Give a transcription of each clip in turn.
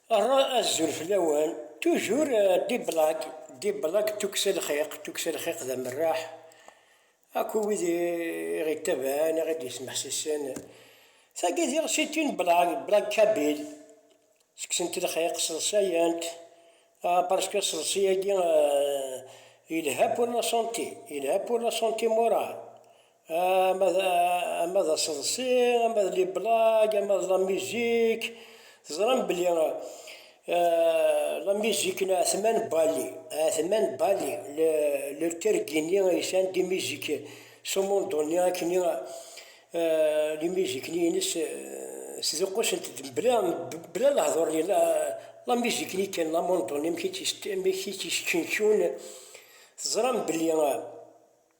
Rra azul fell-awen, tujur D-Black, D-Black d tukksa n lxiq, tukksa n lxiq d amerreḥ akk i wid i ɣ-ittabaɛen, i ɣ-id-yesmeḥsisen, tagi d tiɣsiti n Black, Black Kabil, ttekksen-t lxiq, sseḍsayen-t, ah parce que aseḍsi-agi yelha pour la santé, yelha pour la santé morale. ama d ama d aseḍsi ama d liblag ama d la musique teẓram belli la musique n Atman Bali Atman Bali le le tergini aysan di musique sumundoni akken li musique ni ines sduqusent d bla bla lehdur ni la la musique ni kan la mondoni amek i tt-isteqcun teẓram belli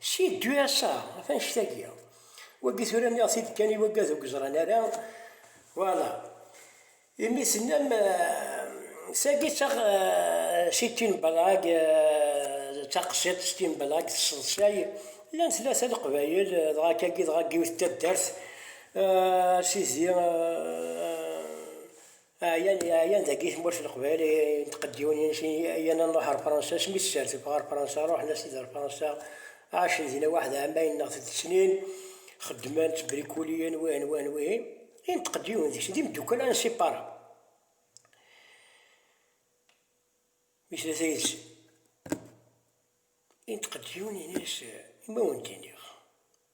Si ddu ass-a, ɣef annect-agi. Wagi tura nniɣ-t-id kan i waggad ur yeẓran ara, voilà. Imi tennam, tagi d ta, si tin blag, d taqsiḍt s tin blag tesseḍsay, llan tlata leqbayel, dɣa kagi dɣa n yiwet n taddart, sidi, Ɛyan ɛyan dagi tmurt n Leqbayel i n tqeddiwin ines i yan anruḥ ar Fransa smi tserteb ɣer Fransa ruḥen as-id ar Fransa ɛacen dina waḥed ɛamayen neɣ tet snin xeddmen ttbrikuliyen wihin wihin wihin i n tqeddiwin deg-sen d imeddukkal insipara mi tlata yid-sen i n tqeddiwin ines i ma wen d-iniɣ.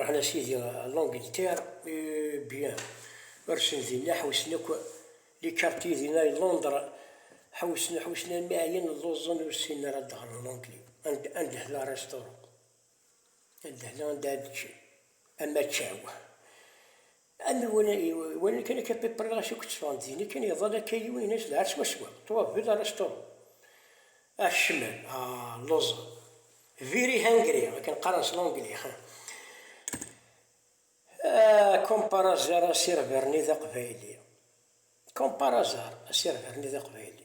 Ṛuḥen a sidi ɣer Langeltɛir, Byen. Mi ṛuḥen dinna ḥewsen akk likarti di ay Londr, ḥewsen, ḥewsen almi ɛyan, lluẓen, ur ssinen ara ad ɣren Langli. Andehla restaurant, andehla anda ad ččen, amaččaw, Am iwanen kan akka Piperna ɣas akk tteffɣen-d din kan iḍal akka yiwen yenna-as d ɛad swaswa, ṭwa bel ara sṭurun. Ah kecmen, ah lluẓen. Very hungry, akken qqaren s l'anglais, ha. Ah comme par hasard asirver-nni d aqbayli. Comme par hasard asirver-nni d aqbayli.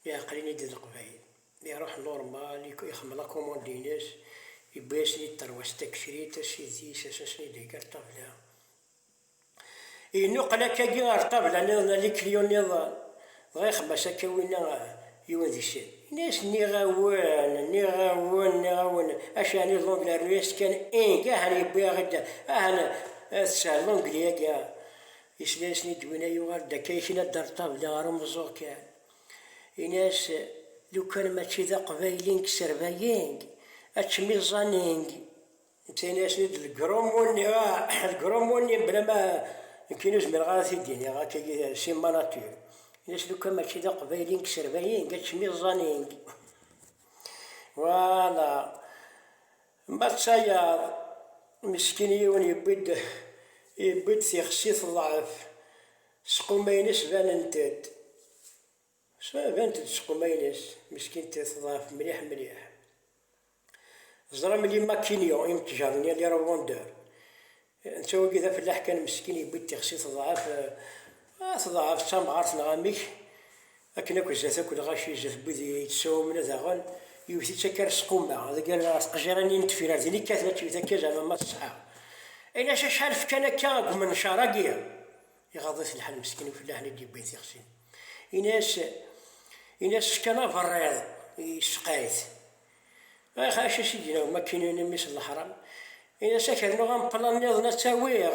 Mi ɛeqlen-id Leqbayel, iruḥ Normal, ixemmel akumund-ines, yewwi-asen-id tarwa-s takecrit, asidis, asasen i d-ihegga ṭṭabla. Yennuqel akkagi ɣer ṭṭabla niḍen ali kiliyon niḍen, dɣa ixemma-as akka winna yiwen deg-sen, yenna-as nniɣ-awen, nniɣ-awen, nniɣ-awen, acu ɛni L'Anglais rnu-as-tt kan ing, ahan yewwi-aɣ-id, ahan teshel L'Anglais-agi, yesla-asen-id winna yuɣal-d akka yekna-d ar ṭṭabla ɣer umeẓẓuɣ kan. Ini-as lukan mačči d aqbayli n yserbayi ačem iẓẓan n. Netta yenna-yasen-id lgrummu-nni, ah, lgrummu-nni mebla ma nekkini ur zmireɣ ara ad t-id-iniɣ akka-agi si ma nature. Ini-as lukan mačči d aqbayli n yserbayi ačem iẓẓan n. Voilà. Ma d tayaḍ, meskin yiwen yewwi-d yewwi-d tixsi teḍɛef. Squmayen-is banent-d, banent-d squmayen-is, meskint teḍɛef mliḥ mliḥ. Teẓra belli Makinio, imtjaṛ-nni Alira Wonder, netta wagi d afellaḥ kan meskin yewwi-d tixsi teḍɛef, teḍɛef d tamɣart neɣ amek, Akken akk izat akk lɣaci izat n wid i yettɛumen daɣen, yewwet-itt akka ar squmma, deg yal ar tqejjirin-nni n tefyar din i kkaten ad tewwet akka zeɛma ma teṣḥa. I lac acḥal fkan akka deg umencar-agi? Iɣaḍ-it lḥal meskin ufellaḥen i d-yewwin tixsi. Ini-as, ini-as fkan aberriḍ yesseqay-it. Ax, acu i s-id-yenna umakinu-nni mmi-s n leḥram? Ini-as a k-rnuɣ ameplan-nniḍen ad tt-awiɣ.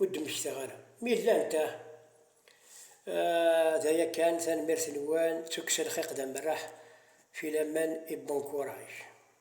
Ur d-mmektaɣ ara mi llant, ah. D aya kan, tanemmirt-nwen d tukksa n lxiq d amerreḥ filaman i bon courage.